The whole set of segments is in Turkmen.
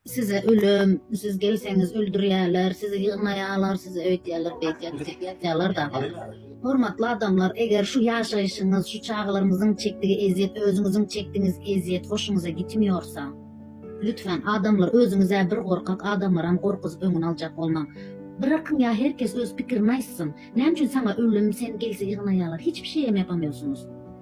Size ölüm, siz gelseňiz öldürýärler, sizi ýygnaýarlar, size öýdýärler, beýdýärler, ýatýarlar dagy. Hormatly adamlar, eger şu ýaşaýşyňyz, şu çagalarňyzyň çekdigi ezýet, özüňiziň çekdigiňiz ezýet hoşuňyza gitmiýorsa, lütfen, adamlar, özüňiz-ä bir gorkak, adamlaram gorkuzyp öňüni aljak bolmaň. Brakyň ýa her kes öz pikirini aýtsyn. Näme üçin saňa ölüm, sen gelse ýygnaýarlar, hiçbir şeýem ýapamýorsyňyz.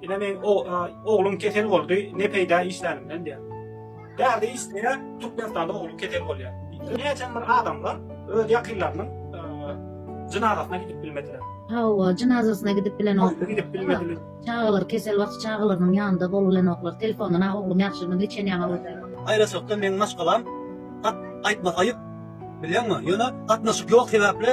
Ine men o oglum kesel boldy, ne peýda işlänimden diýär. Bärde işleýär, Türkmenistanda oglum kesel bolýar. Näçe bir adamlar öz ýakynlarynyň jynazasyna gidip bilmediler. Hawa, jynazasyna gidip bilen ok. Gidip bilmediler. Çagalar kesel wagty çagalarynyň ýanynda bolulan oklar. Telefondan a oglum ýagşymy geçen ýaňa bolsa. Aýratynlykda meň maşgalam at aýtmak aýyp. Bilýäňmi? Ýöne gatnaşyk ýok sebäpli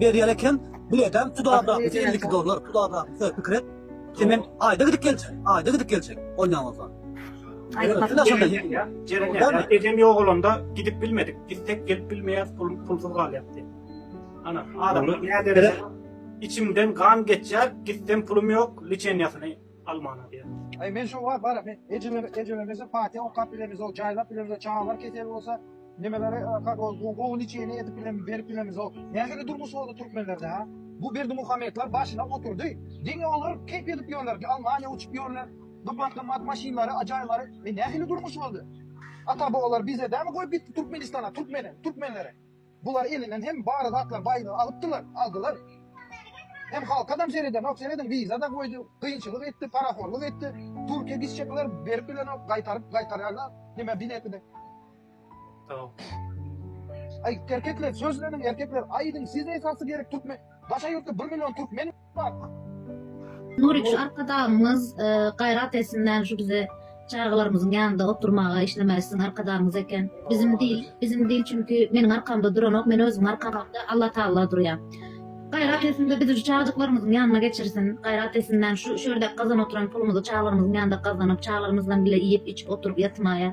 Berýär eken, biletem tuda brakmysa 52 dollar, tuda brakmysa pikir et. Semen aýda gidip geljek, aýda gidip geljek. Ondan bolsa. Jeren ejem ýogalanda gidip bilmedik. Gitsek gelip bilmeýäs, pul pulsuz galýar diýip. Ana, adamlar näderejede içimden gan geçýär, gitsem pulum ýok, liçeniýasyny almany aýdýar. Aý men şo wagt bar men ejeme ejeme bize fatiha okap bilemiz ol jaýlap bilemiz çagalar kesel bolsa nimelere okap ol gowy niçeýini edip bilemiz berip bilemiz ol nähili durmuş boldy türkmenlerde ha bu berdimuhamedler başyna oturdy diňe olar keýp edip ýörler ki almaniýa uçup ýörler gymmat gymmat maşynlary ajaýlary e nähili durmuş boldy ata babalar bize dämi goýup gitdi türkmenistana türkmene türkmenlere Bular elinden hem bar zatlar baýlygy alypdylar, aldylar. Hem halkadam seredenok, serediň wiza-da goýdy, kynçylyk etdi, parahorlyk etdi, Türkiýe gitjekler berip bilenok, gaýtaryp gaýtarýarlar, nime bileti-de. Aý erkekler sözleniň erkekler aýdyň siz esasy gerek türkmen daşa ýurtda bir million türkmen. Nurik şu arkadagymyz e, gaýrat etsinler şu bize çagalarymyzyň ýanynda oturmaga işlemeli sizin arkadagymyz eken. Bizim dil, bizim dil çünki meniň arkamda duranok, men özüm arkamda Allah Taala durýar. Gaýrat etsin de bizi şu çagajyklarymyzyň ýanyna geçirsin. Gaýrat etsinler şu şu ýerde gazan oturan pulumyzy çagalarymyzyň ýanynda gazanyp, çagalarymyzdan bile iýip, içip oturyp ýatmaýa.